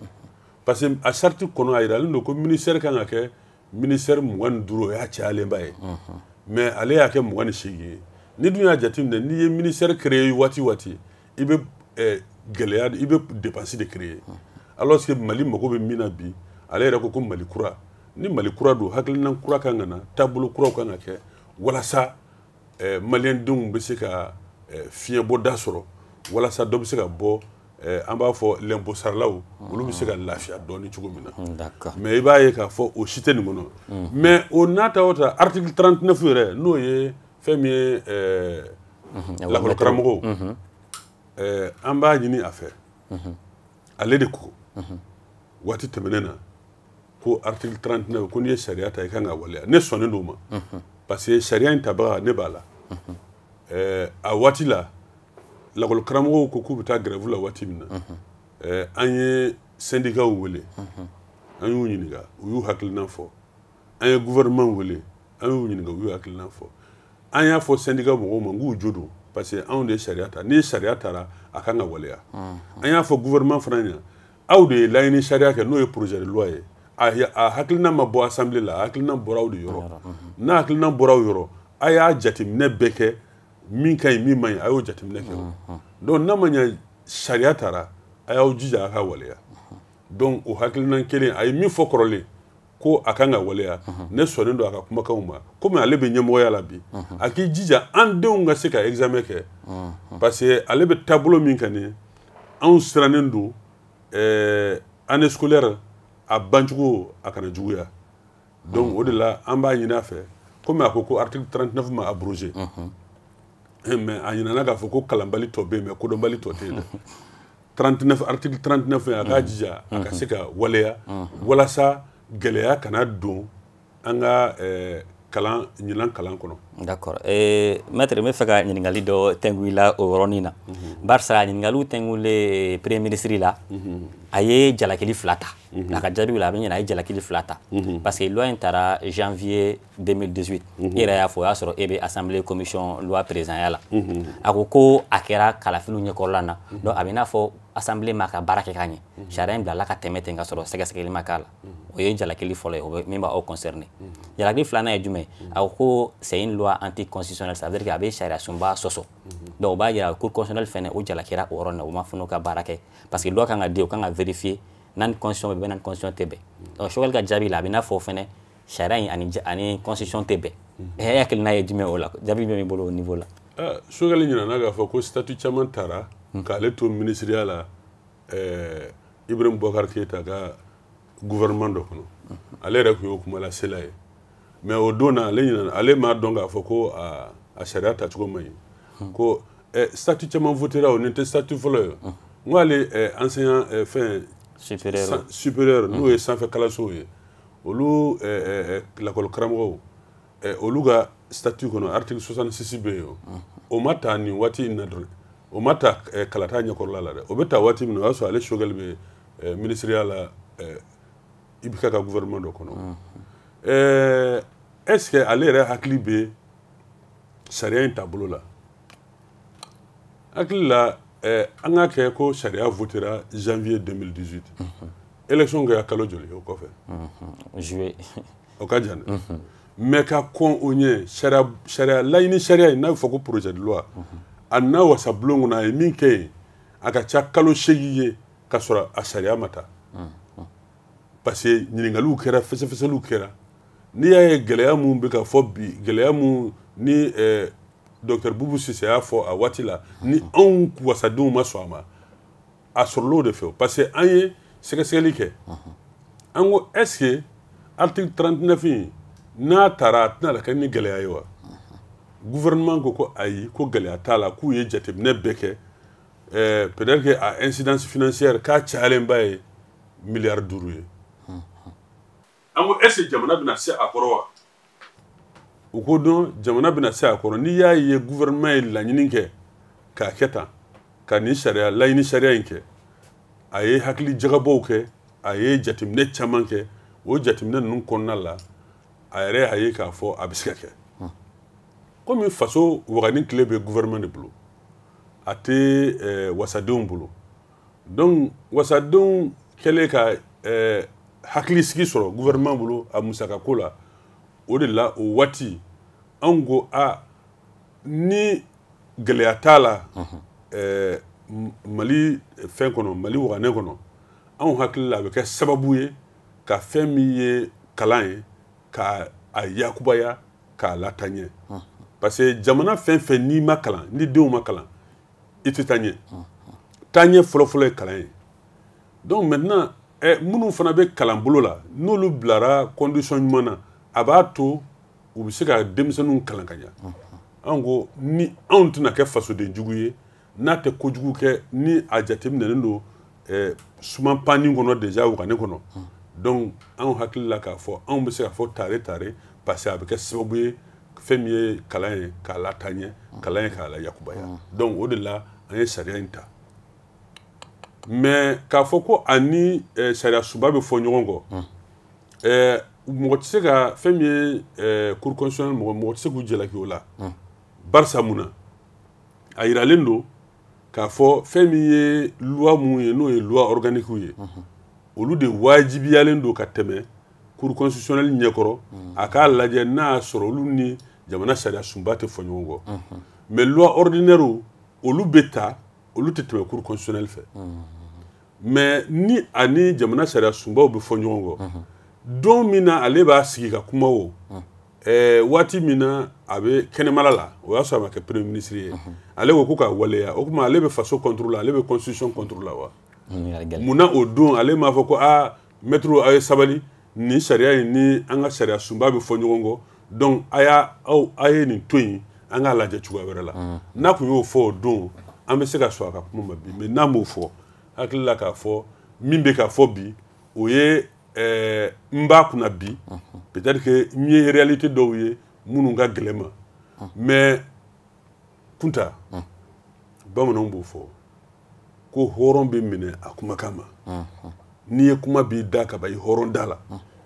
parce que a charte kɔnɔ a yiralen don ko ministère kan ka kɛ ministère mugan ni duuru o y'a cayalenba ye mais ale y'a kɛ mugan ni seegin ye n'i dun y'a jateminɛ n'i ye ministère créer waati waati i bɛ eh, gɛlɛya i bɛ dépense de créer alors que mali mago bɛ min na bi ale yɛrɛ ko ko mali kura ni mali kura don hakilinan kura kan ka na taabolo kuraw kan ka kɛ walasa eh, maliyɛndenw bɛ se ka eh, fiɲɛbɔda sɔrɔ walasa dɔ bɛ se ka bɔ eh, an b'a fɔ l'impôt saralaw olu bɛ se ka lafiya dɔɔni cogo min na mm, mais i b'a ye k'a fɔ o si tɛ nin kɔnɔ mm. mais o n'a ta o ta article 39 yɛrɛ n'o ye fɛn min ye eh, mm-hmm. lakɔlikaramɔgɔw mm-hmm. eh, an b'a ɲini a fɛ mm-hmm. ale de ko waati tɛmɛnen na ko article 39 ko n'i ye sariya ta i kan ka waleya ne sɔnnen d'o ma parce que sariya in tabaga ne b'a la eh, a waati la lakɔli karamɔgɔw ko k'u bɛ taa grève la waati min na eh, an ye syndicatw wele an y'u ɲininka u y'u hakilinan fɔ an ye gouvernement wele an y'u ɲininka u y'u hakilina fɔ an y'a fɔ syndicat mɔgɔw ma k'u jo don parce que anw de ye sariya ta ni sariya tara a kan ka waleya an y'a fɔ gouvernement fana ɲɛna aw de ye laɲini sariya kɛ n'o ye projet de loi ye a hakilina ma bɔ assemblée la a hakilina bɔra aw de yɔrɔ n'a hakilina bɔra aw yɔrɔ a y'a jateminɛ bɛɛ kɛ min ka ɲi min man ɲi a y'o jateminɛ kɛ o donc n'a ma ɲɛ sariya tara a y'aw jija a ka waleya donc o hakilinan kelen a ye min fɔ kɔrɔlen ko a kan ka waleya ne sɔnnen don a ka kumakanw ma komi ale bɛ ɲɛmɔgɔya la bi a k'i jija an denw ka se ka examen kɛ parce que ale bɛ taabolo min kan nin anw sirannen don eh, année scolaire a bancogo a kana juguya donc o de la an b'a ɲini a fɛ komi a ko ko article 39 ma abrogé eh, mais a ɲinana k'a fɔ ko kalanbali tɔ bɛ yen mais kodɔnbali tɔ tɛ yen dɛ 39 article 39 fɛn a k'a jija a ka se ka waleya walasa gɛlɛya kana don an ka eh, kalan ɲinan kalan kɔnɔ d'accord eh, maître n bɛ fɛ ka ɲininkali dɔ tɛngu i la o yɔrɔnin na mhm. barisa ɲininkaliw tɛngulen premier ministre la mhm. a ye jalakili fila ta mhm. a ka jaabiw la a bɛ n ɲɛna a ye jalakili fila ta parce que loi in tara janvier 2018 mhm. e yɛrɛ y'a fɔ o y'a sɔrɔ e bɛ assemblée commission loi présidentya la mhm. a ko ko a kɛra kalafiliw ɲɛkɔrɔla na mhm. donc a bɛ i n'a fɔ assemblée m'a ka baara kɛ ka ɲɛ sariya in bilala ka tɛmɛ ten ka sɔrɔ sɛgɛsɛgɛli ma k'a la o ye jalakili fɔlɔ ye o bɛ min b'aw concerné jalakili filanan ye jumɛn a ko ko c'est une loi anticonstitutionnelle ça veut dire que a bɛ sariya sunba sɔsɔ donc o b'a yira cour constitutionnelle fɛnɛ o jalakira o yɔrɔ na o ma fana ka baara kɛ parce que loi kan ka di o kan ka vérifier n'a ni constitution bɛ bɛn n'a ni constitution tɛ bɛn donc Choguel ka jaabi la a bɛ i n'a fɔ fɛnɛ sariya in ani ani constitution tɛ bɛn e hakilina ye jumɛn o la jaabi bɛ min bolo o niveau la Choguel ɲinana k'a fɔ ko statut caman tara k'ale to minisiriya la Ibrahim Boubacar Keïta ka gouvernement dɔ kɔnɔ ale yɛrɛ tun y'o kumalasela ye mais o don na ale ɲinana ale m'a dɔn k'a fɔ ko a sariya tacogo man ɲi ko statut caman votera o nin tɛ statut fɔlɔ ye n ko ale enseignant fɛn supérieur n'o ye sanfɛ kalansow ye olu lakɔli karamɔgɔw olu ka statut kɔnɔ article 66 bɛ yen o ma ta nin waati in na dɔrɔn o ma ta kalata ɲɛkɔrɔla la dɛ o bɛ ta waati min na o y'a sɔrɔ ale Choguel bɛ minisiriya la IBK ka gouvernement dɔ kɔnɔ est-ce que ale yɛrɛ hakili bɛ sariya in taabolo la hakili la eh, an k'a kɛ ko sariya votera janvier 2018 élection kɛra kalo joli o kɔfɛ juillet o ka jan dɛ mais ka kɔn o ɲɛ sariya sariya laɲini sariya in n'a bɛ fɔ ko projet de loi a na wasabulon kɔnɔ a ye min kɛ yen a ka ca kalo seegin ye ka sɔrɔ a sariya ma ta parce que ɲininkaliw kɛra fɛsɛfɛsɛliw kɛra n'i y'a ye gɛlɛya mun bɛ ka fɔ bi gɛlɛya mun ni eh, dɔktɛr bubu sise y'a fɔ a waati la ni anw wasadenw ma sɔn a ma a sɔrɔl'o de fɛ parce que an ye sɛgɛsɛgɛli kɛ an ko est ce que article 39 in n'a taara a tɛna la kɛ ni gɛlɛya ye wa gouvernement ko ko ayi ko gɛlɛya t'a la k'u ye jateminɛ bɛɛ kɛ eh, peut-être que a incidence financière k'a cayalenba ye miliyari duuru ye an ko est ce que jamana bɛna se a kɔrɔ wa u ko donc jamana bɛna se a kɔrɔ n'i y'a ye gouvernement ye laɲini kɛ k'a kɛ tan ka nin sariya laɲini sariya in kɛ a ye hakili jagabɔw kɛ a ye jateminɛ caman kɛ o jateminɛ ninnu kɔnɔna la a yɛrɛ y'a ye k'a fɔ a bɛ se ka kɛ komi faso wagane kile bɛ gouvernement de bolo a tɛ eh, wasadenw bolo donc wasadenw kɛlen ka eh, hakili sigi sɔrɔ gouvernement bolo a musaka ko la o de la o waati anw ko a ni gɛlɛya t'a la mhm. eh, mali fɛn kɔnɔ mali waganɛ kɔnɔ anw hakili la a bɛ kɛ sababu ye ka fɛn min ye kalan ye ka a yakubaya k'a lataa ɲɛ mhm. parce que jamana fɛn fɛn n'i ma kalan ni denw ma kalan i tɛ taa ɲɛ taaɲɛ fɔlɔfɔlɔ ye kalan ye donc maintenant eh, minnu fana bɛ kalan bolo la n'olu bilara condition ɲuman na a b'a to u bɛ se ka denmisɛnninw kalan ka ɲa anw ko ni anw tɛna kɛ fasoden jugu ye n'a tɛ kojugu kɛ ni a jateminɛlen don eh, suman panni kɔnɔ déjà wagane kɔnɔ donc anw hakili la k'a fɔ anw bɛ se k'a fɔ tare tare parce que a bɛ kɛ sababu ye fɛn min ye kalan ye k'a lataa ɲɛ kalan ye k'a layakubaya mm. donc o de la an ye sariya in ta mais k'a fɔ ko a ni eh, sariya sunba bɛ fɔ ɲɔgɔn kɔ mm. eh, mɔgɔ tɛ se ka fɛn min ye eh, cour constitutionnelle mɔgɔ mɔgɔ tɛ se k'u jalaki o la mm. barisa mun na a yiralen don k'a fɔ fɛn min ye loi mun ye n'o ye loi organique ye olu de wajibiyalen don ka tɛmɛ cour constitutionnelle ɲɛkɔrɔ a k'a lajɛ n'a y'a sɔrɔ olu ni jamana sariya sunba tɛ fɔ ɲɔgɔn kɔ mais loi ordinaire olu bɛ ta olu tɛ tɛmɛ cour constitutionnelle fɛ mais ni a ni jamana sariya sunbaw bɛ fɔ ɲɔgɔn kɔ don min na ale b'a sigi ka kuma o eh, waati min na a bɛ kɛnɛmala la o y'a sɔrɔ a ma kɛ premier ministre ye mhm. ale ko k'o ka waleya o tuma ale bɛ faso contre la ale bɛ constitution contre la wa mun na o don ale m'a fɔ ko aa maître aw ye sabali nin sariya in ni an ka sariya sunba bɛ fɔ ɲɔgɔn kɔ donc a y'a aw a ye nin to yen an k'a lajɛ cogoya wɛrɛ la mhm. n'a tun y'o fɔ o don an bɛ se ka sɔn a ka kuma ma bi mais n'a m'o fɔ hakili la k'a fɔ min bɛ ka fɔ bi o ye ɛɛ n b'a kunna bi peut-être que n ye réalité dɔw ye minnu ka gɛlɛn n ma mais kunta bamananw b'o fɔ ko hɔrɔn bɛ minɛ a kumakan ma n'i ye kuma b'i da ka ban i hɔrɔn da la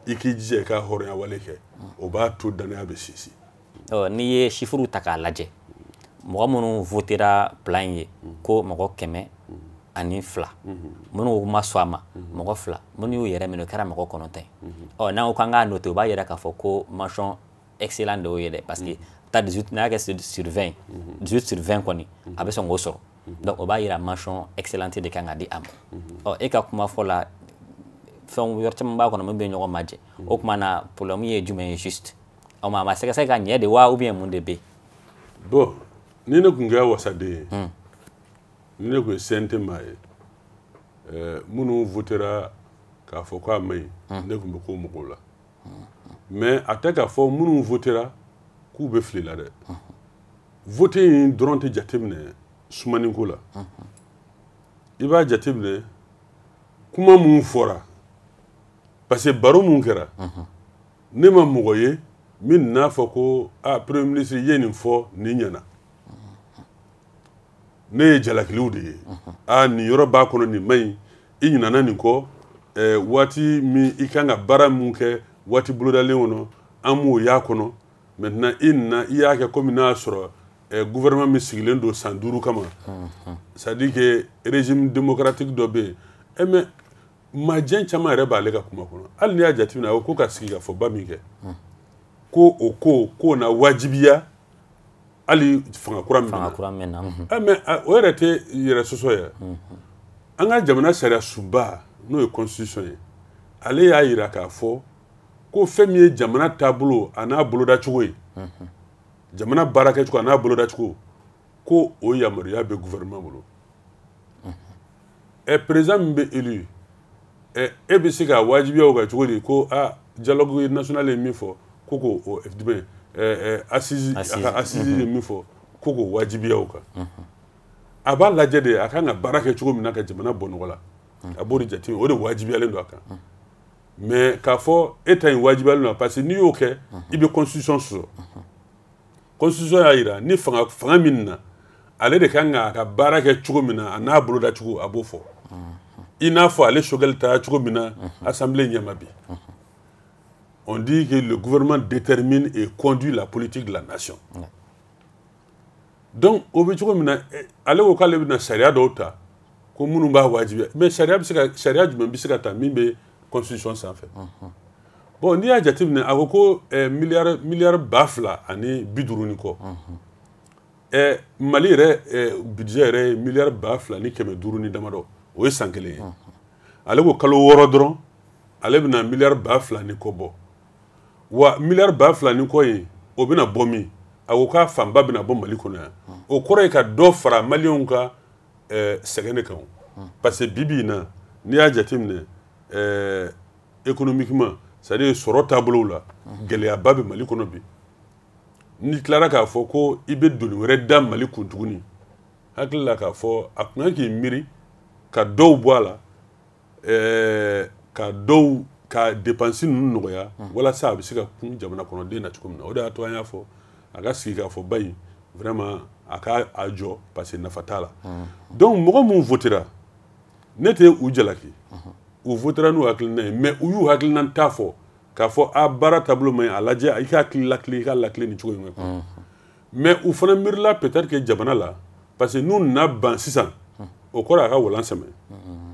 i k'i jija i ka hɔrɔnya wale kɛ o b'a to dannaya bɛ sinsin n'i ye chiffre ta k'a lajɛ mɔgɔ minnu votera plan in ye ko mɔgɔ kɛmɛ ani fila minnu ma sɔn a ma mɔgɔ fila minnu y'u yɛrɛ minɛ o kɛra mɔgɔ kɔnɔntɔn ye ɔ n'an ko k'an k'a noter o b'a yira k'a fɔ ko mention excellent de y'o ye dɛ parce que ta 18 n'a kɛ sur 20 18 sur 20 kɔni a bɛ sɔn k'o sɔrɔ donc o b'a yira mention excellente de kan ka di a ma ɔ e ka kuma fɔ la fɛn yɔrɔ caman b'a kɔnɔ min bɛ ɲɔgɔn majɛ o tuma na problème ye jumɛn ye juste o ma a ma sɛgɛsɛgɛ ka ɲɛ de wa ou bien mun de bɛ bon ni ne tun kɛra wasaden ye hmm. ni ne tun ye CNT maa ye eh, minnu votera k'a fɔ k'a man ɲi hmm. ne tun bɛ k'o mɔgɔw la mais a tɛ k'a fɔ minnu votera k'u bɛ fili la dɛ vote in dɔrɔn tɛ jateminɛ sumaniko la i b'a jateminɛ kuma minnu fɔra parce que baro minnu kɛra ne ma mɔgɔ ye min n'a fɔ ko a premier ministre i ye nin fɔ nin ɲɛna ne ye jalakiliw de ye a nin yɔrɔ b'a kɔnɔ nin man ɲi i ɲinana nin kɔ eh, waati min i kan ka baara min kɛ waati bolodalen kɔnɔ an m'o y'a kɔnɔ maintenant i nana i y'a kɛ komi n'a sɔrɔ eh, gouvernement min sigilen don san duuru kama c'est à dire que régime démocratique dɔ bɛ yen eh, mais majɛ caman yɛrɛ b'ale ka kuma kɔnɔ hali n'i y'a jateminɛ a ko ka sigikafɔba min kɛ ko o ko k'o na wajibiya hali fanga kura min fanga kura min na eh, mais eh, o yɛrɛ tɛ yɛrɛ sɔsɔ ye an ka jamana sariya sunba n'o ye constitution ye ale y'a yira k'a fɔ ko fɛn min ye jamana taabolo a n'a bolodacogo ye jamana baarakɛcogo a n'a bolodacogo ko o yamaruya bɛ gouvernement bolo ɛ président min bɛ élu ɛ e bɛ se ka wajibiya o kan cogo di ko a dialogue national ye min fɔ ko k'o o jumɛn ɛ assises a ka assises ye min fɔ ko k'o wajibiya o kan a b'a lajɛ de a kan ka baara kɛ cogo min na ka jamana bɔ nɔgɔ la a b'o de jate o de wajibiyalen don a kan mais k'a fɔ e ta in wajibiyalen don parce que n'i y'o kɛ i bɛ constitution sɔsɔ. constitution y'a jira ni fanga fanga min na ale de kan k'a ka baara kɛ cogo min na a n'a boloda cogo a b'o fɔ i n'a fɔ ale choguel taara cogo min na assemblée ɲɛ ma bi on dit que le gouvernement détermine et conduit la politique de la nation donc o bɛ cogo min na eh, ale ko k'ale bɛna sariya dɔw ta ko minnu b'a wajibiya mais sariya bɛ se ka sariya jumɛn bɛ se ka ta min bɛ constitution sanfɛ bon n'i y'a jateminɛ a ko ko eh, miliyari miliyari ba fila ani bi duuru ni kɔ eh, mali yɛrɛ eh, budget yɛrɛ ye miliyari ba fila ni kɛmɛ duuru ni damadɔ o ye san kelen ye ale ko kalo wɔɔrɔ dɔrɔn ale bɛna miliyari ba fila ni kɔ bɔ wa miliyari ba fila ni kɔ in o bɛna bɔ min a ko k'a fanba bɛna bɔ mali kɔnɔ yan o kɔrɔ ye ka dɔ fara maliyɛnw ka eh, sɛgɛn de kan o. parce que bi bi in na n'i y'a jateminɛ eh, économiquement c'est à dire sɔrɔ taabolow la gɛlɛyaba bɛ mali kɔnɔ bi n'i tilara k'a fɔ ko i bɛ doni wɛrɛ da mali kun tuguni hakili la k'a fɔ a tun kan k'i miiri ka dɔw bɔ a la ɛɛ ka dɔw ka dépenses ninnu nɔgɔya walasa a bɛ se ka kun jamana kɔnɔden na cogo min na o de y'a to an y'a fɔ a ka sigikafɔba in vraiment a ka a jɔ parce que nafa t'a la donc mɔgɔ minnu votera ne tɛ u jalaki u votera n'u hakilina ye mais u y'u hakilinata fɔ k'a fɔ a baara taabolo man ɲi a lajɛ i ka hakili latilen i k'a latilen ni cogo in kan mais u fana miirila peut-être que jamana la parce que n'u nana ban sisan o kɔrɔ a ka walan sɛmɛ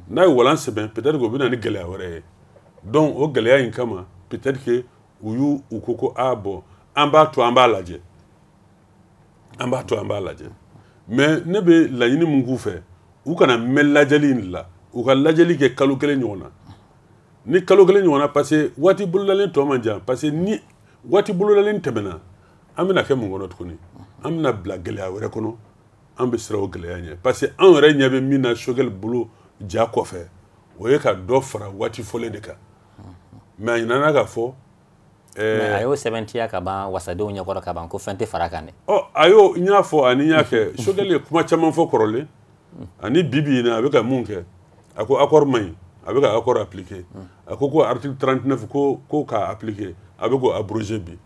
n'a ye walan sɛmɛ peut-être que o bɛ na ni gɛlɛya wɛrɛ ye donc o gɛlɛya in kama peut-être que u y'u u ko ko a bon an b'a to an b'a lajɛ an b'a to an b'a lajɛ mais ne bɛ laɲini min k'u fɛ u kana mɛn lajɛli in la u ka lajɛli kɛ kalo kelen ɲɔgɔn na ni kalo kelen ɲɔgɔn na parce que waati bolodalen tɔ man jan parce que ni waati bolodalen tɛmɛna an bɛna kɛ mun kɔnɔ tuguni an bɛna bila gɛlɛya wɛrɛ kɔnɔ an bɛ siran o gɛlɛya ɲɛ parce que an yɛrɛ ɲɛ bɛ min na choguel bolo ja kɔfɛ o ye ka dɔ fara waati fɔlen de kan mais a ɲinana k'a fɔ a y'o sɛbɛntiya ka ban wasadenw ɲɛkɔrɔ ka ban ko fɛn tɛ fara kan dɛ ɔ a y'o n y'a fɔ ani n y'a kɛ Choguel ye kuma caman fɔ kɔrɔlen ani bi bi in na a bɛ ka mun kɛ a ko accord man ɲi a bɛ ka accord appliquer a ko ko article 39 ko ko k'a appliquer a bɛ k'o abroger bi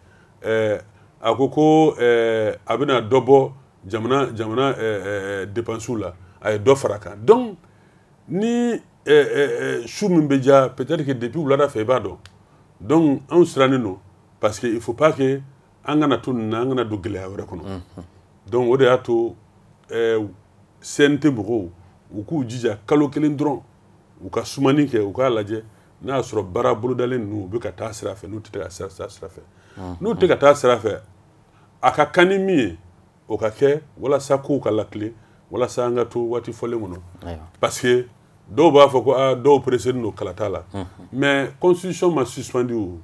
ɛɛ a ko ko ɛɛ a bɛna dɔ bɔ jamana jamana ɛɛ dépenses la a ye dɔ fara kan donc ni ɛɛ su min bɛ diya peut-être que depuis wulada fɛ i b'a dɔn donc anw sirannen don parce que il faut pas que an kana to nin na an kana don gɛlɛya wɛrɛ kɔnɔ mhm. donc o de y'a to eh, CNT mɔgɔw u k'u jija kalo kelen dɔrɔn u ka sumani kɛ u k'a lajɛ n'a y'a sɔrɔ baara bolodalen ninnu u bɛ ka taa sira fɛ n'u tɛ ka taa sira fɛ n'u tɛ ka taa sira fɛ a ka kan ni min ye o ka kɛ walasa kow ka latilen walasa an ka to waati fɔlen kɔnɔ parce que dɔw b'a fɔ ko aa ah, dɔw pressélen don kalata la mais constitution ma suspendu o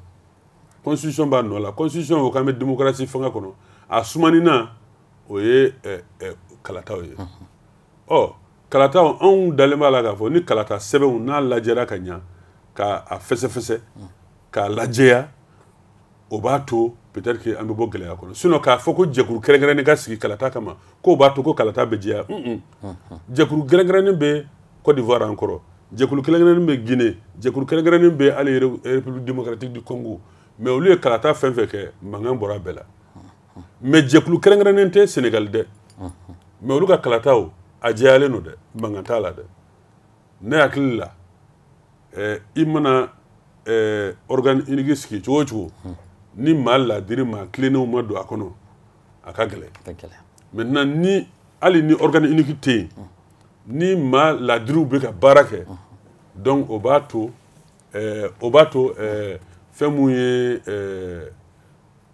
constitution b'a nɔ la constitution ko k'an bɛ démocratie fanga kɔnɔ a sumanina o ye eh, eh, kalataw ye ɔ kalataw anw dalen b'a la k'a fɔ ni kalata sɛbɛnw n'a lajɛra ka ɲa ka a fɛsɛfɛsɛ k'a lajɛya o b'a to peut-être que an bɛ bɔ gɛlɛya kɔnɔ sinon k'a fɔ ko jɛkuru kɛrɛnkɛrɛnnen ka sigi kalata kama k'o b'a to ko kalata bɛ jɛya un un jɛkuru kɛrɛnkɛrɛnnen bɛ Côte d'Ivoire an kɔrɔ jɛkulu kɛrɛnkɛrɛnnen bɛ Guinée jɛkulu kɛrɛnkɛrɛnnen bɛ hali République démocratique du Congo mais olu ye kalata fɛn fɛn kɛ mankan bɔra bɛɛ la mais jɛkulu kɛrɛnkɛrɛnnen tɛ Sénégal dɛ mais olu ka kalataw a jɛyalen don dɛ mankan t'a la dɛ ne hakili la eh, i mana eh, organe unique sigi cogo o cogo hmm. ni maa ladiri maa tilennenw ma don a kɔnɔ a ka gɛlɛn maintenant ni hali ni organe unique tɛ yen hmm. ni maa ladiriw bɛ ka baara kɛ hmm. donc o b'a to eh, o b'a to eh, fɛn mun ye eh,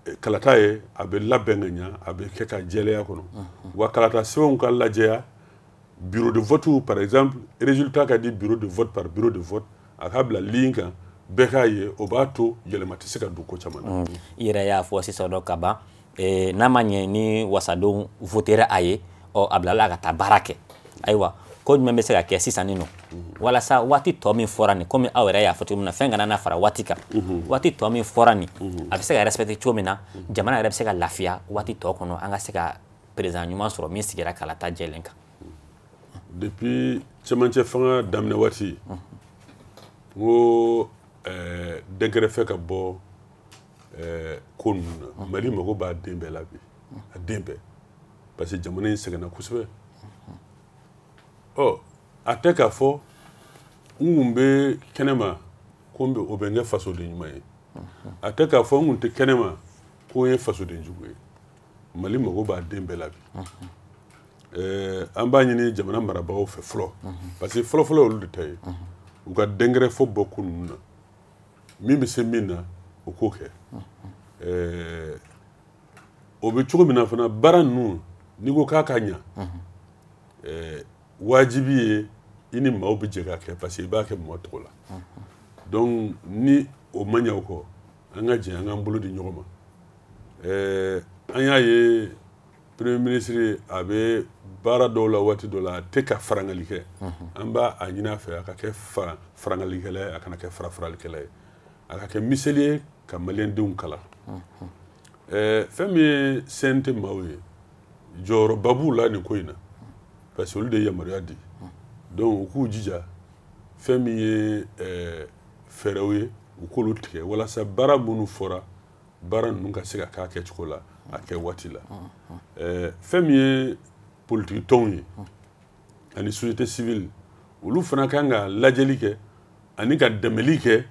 eh, kalata ye a bɛ labɛn ka ɲa a bɛ kɛ ka jɛlenya kɔnɔ wa kalata sɛbɛnw ka lajɛya bureau de vote par exemple résultat ka di bureau de vote par bureau de vote a ka bila ligne kan bɛɛ k'a ye o b'a to yɛlɛma tɛ se ka don ko caman na mm. i yɛrɛ y'a fɔ sisan dɔ ka ban eh, n'a ma ɲɛ ni wasadenw votera a ye ɔ a bilala ka taa baara kɛ ayiwa ko jumɛn bɛ se ka kɛ sisan nin nɔ walasa waati tɔ min fɔra nin komi aw yɛrɛ y'a fɔ cogo min na fɛn kana na fara waati kan mhm. waati tɔ min fɔra nin mhm. a bɛ se ka respecter cogo min na mhm. jamana yɛrɛ bɛ se ka lafiya waati tɔ kɔnɔ an ka se ka président ɲuman sɔrɔ min sigira kalata jɛlen kan depuis cɛmancɛ fanga daminɛ waati n ko dɛnkɛrɛfɛ ka bɔ ko ninnu na Mali mago b'a den bɛɛ la bi a den bɛɛ parce que jamana in sɛgɛnna kosɛbɛ ɔ a tɛ k'a fɔ n kun bɛ kɛnɛma ko n bɛ o bɛ n kɛ fasoden ɲuman ye a tɛ k'a fɔ n kun tɛ kɛnɛma ko n ye fasoden jugu ye mali mago b'a den bɛɛ la bi ɛɛ an b'a ɲini jamana marabagaw fɛ fɔlɔ parce que fɔlɔfɔlɔ olu de ta ye u ka dɛnkɛrɛfɛ bɔ ko ninnu na min bɛ se min na o k'o kɛ ɛɛ o bɛ cogo min na fana baara ninnu n'i ko k'a ka ɲa ɛɛ wajibi ye i ni maaw bɛ jɛ k'a kɛ parce que i b'a kɛ mɔgɔ tɔgɔ la donc ni o ma ɲɛ o kɔ an ka jɛ an k'an bolo di ɲɔgɔn ma ɛɛ an y'a ye premier ministre a bɛ baara dɔw la waati dɔ la a tɛ ka farangali kɛ an b'a ɲini a fɛ a ka kɛ farangalikɛla ye a kana kɛ farafaralikɛla ye a ka kɛ miseli ye ka maliyɛndenw kalan ɛɛ fɛn min ye cnt maaw ye jɔyɔrɔba b'u la nin ko in na parce que olu de ye yamaruya di donc u k'u jija fɛn min ye ɛɛ fɛɛrɛw ye u k'olu tigɛ walasa baara minnu fɔra baara ninnu ka se ka k'a kɛcogo la a kɛ waati la ɛɛ fɛn min ye politiki tɔnw ye ani société civile olu fana kan ka lajɛli kɛ ani ka dɛmɛli kɛ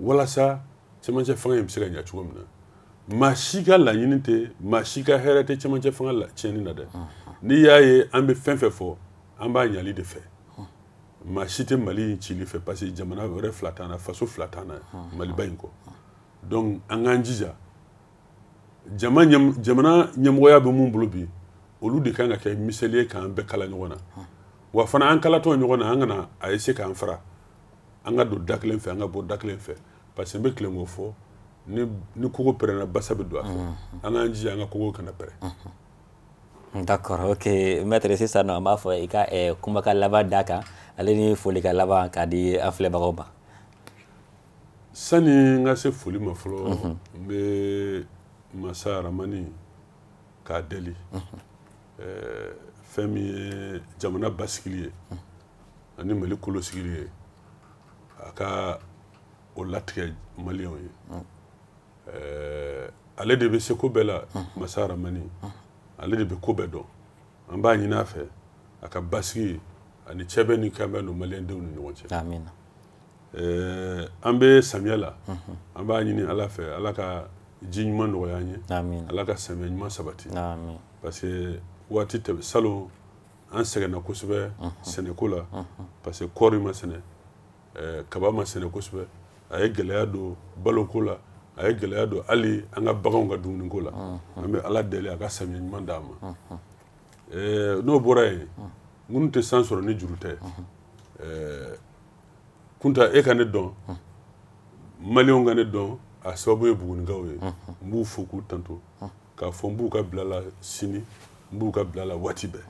walasa cɛmancɛ fanga in bɛ se ka ɲa cogo min na maa si ka laɲini tɛ maa si ka hɛrɛ tɛ cɛmancɛ fanga latiɲɛni na dɛ n'i y'a ye an bɛ fɛn fɛn fɔ an b'a ɲali de fɛ maa si tɛ mali in cili fɛ parce que jamana wɛrɛ fila t'an na faso fila t'an na maliba in kɔ donc an k'an jija jama jamana ɲɛmɔgɔya bɛ mun bolo bi olu de kan ka kɛ miseli ye k'an bɛɛ kala ɲɔgɔn na wa fana an kalatɔ ɲɔgɔn na an kana a ye se k'an fara an ka don da kelen fɛ an ka bɔ da kelen fɛ parce que n bɛ tilen k'o fɔ ni kogo pɛrɛnna basa bɛ don a fɛ an k'an jija an ka kogo kana pɛrɛn D'accord, ok. Maître sisan nɔ an b'a fɔ i ka eh, kumakan laban d'a kan ale ni folikan laban k'a di an filɛbagaw ma. sani n ka se foli ma fɔlɔ mhm. n bɛ masa aramani k'a deli mhm. eh, fɛn min ye jamana basigili ye mhm. ani mali kolo sigili ye a ka o latigɛ maliyɛnw ye eh, ale de bɛ se ko bɛɛ la masa aramani ale de bɛ ko bɛɛ dɔn an b'a ɲini a fɛ a ka basigi ani cɛbɛn ni kanbɛn don maliyɛndenw ni ɲɔgɔn cɛ ɛɛ an bɛ samiya la an b'a ɲini ala fɛ ala ka ji ɲuman nɔgɔya an ye ala ka samiya ɲuman sabati parce que waati tɛmɛ salon an sɛgɛnna kosɛbɛ sɛnɛko la parce que kɔɔri ma sɛnɛ kaba ma sɛnɛ kosɛbɛ a ye gɛlɛya don baloko la a ye gɛlɛya don hali an ka baganw ka dumuniko la an bɛ ala deli a ka samiya ɲuman d'an ma n'o bɔra yen minnu tɛ san sɔrɔ ni juru tɛ kunta e ka ne dɔn maliyɛnw ka ne dɔn a sababu ye bugunikaw ye n b'u fo k'u tanto k'a fɔ n b'u ka bila la sini n b'u ka bila la waati bɛɛ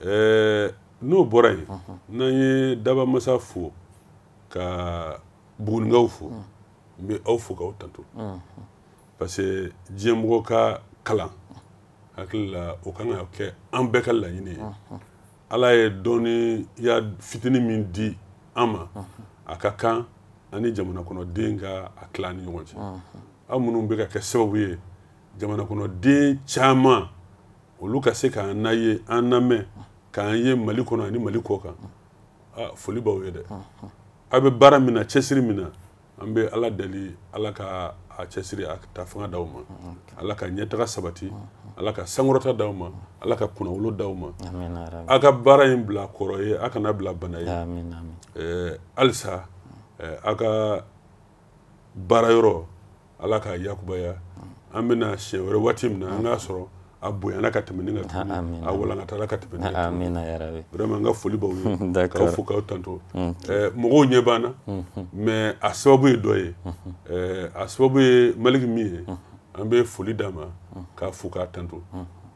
ɛɛ n'o bɔra yen n'an ye dabamasa fo ka bugunikaw fo n bɛ aw fo k'aw tanto parce que diɲɛ mɔgɔ ka kalan hakili la o kan ka kɛ an bɛɛ ka laɲini ye ala ye dɔnniya fitinin min di an ma a ka kan an ni jamana kɔnɔden ka a tila ni ɲɔgɔn cɛ aw minnu bɛ ka kɛ sababu ye jamana kɔnɔden caman olu ka se k'an na ye an lamɛn k'an ye mali kɔnɔ ani mali kɔ kan foli b'aw ye dɛ aw bɛ baara min na cɛsiri min na an bɛ ala deli ala ka a cɛsiri a ta fanga d'aw ma ala ka ɲɛtaga sabati ala ka sankɔrɔta d'aw ma ala ka kunnawolo d'aw ma a ka baara in bila kɔrɔ ye a kana bila bana ye halisa a ka baara yɔrɔ ala k'a yakubaya an bɛ na siɲɛ wɛrɛ waati min na an k'a sɔrɔ a bonyana ka tɛmɛ ni ka tuguni a walankatala ka tɛmɛ ni ka tuguni vraiment n ka foli b'aw ye k'aw fo k'aw tanto mɔgɔw ɲɛ b'an na mais a sababu ye dɔ ye a sababu ye maliki min ye an bɛ foli d'a ma k'a fo k'a tanto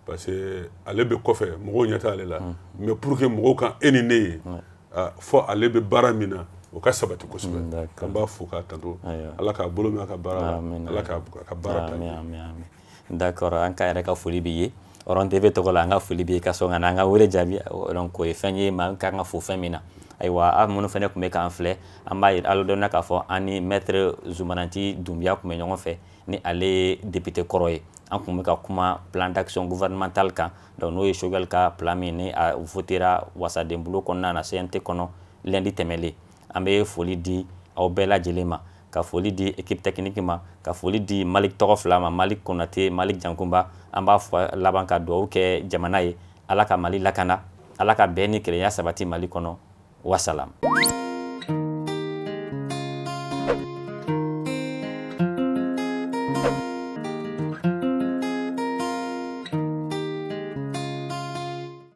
parce que ale bɛ kɔfɛ mɔgɔw ɲɛ t'ale la mais pour que mɔgɔw ka e ni ne ye fo ale bɛ baara min na o ka sabati kosɛbɛ k'an b'a fo k'a tanto ala k'a bolo mɛn a ka baara la ala k'a ka baara ta d'accord an ka yɛrɛ ka foli b'i ye Horon TV tɔgɔ la an ka foli b'i ye ka sɔn ka na an ka wele jaabi donc o ye fɛn ye maa ka kan ka fo fɛn min na ayiwa aw minnu fana tun bɛ k'an filɛ an b'aw ladɔnniya k'a fɔ an ni maître Zumana Nci Dunbiya tun bɛ ɲɔgɔn fɛ ni ale ye député kɔrɔ ye an tun bɛ ka kuma plan d'action gouvernemental kan donc n'o ye Choguel ka plan min ni a votera wasadenbulon kɔnɔna na CNT kɔnɔ lundi tɛmɛlen an bɛ foli di aw bɛɛ lajɛlen ma ka foli di équipe technique ma ka foli di malik tɔgɔ fila ma malik konate malik jankunba an b'a fɔ laban ka dugawu kɛ jamana ye ala ka mali lakana ala ka bɛn ni kelenya sabati mali kɔnɔ wasalam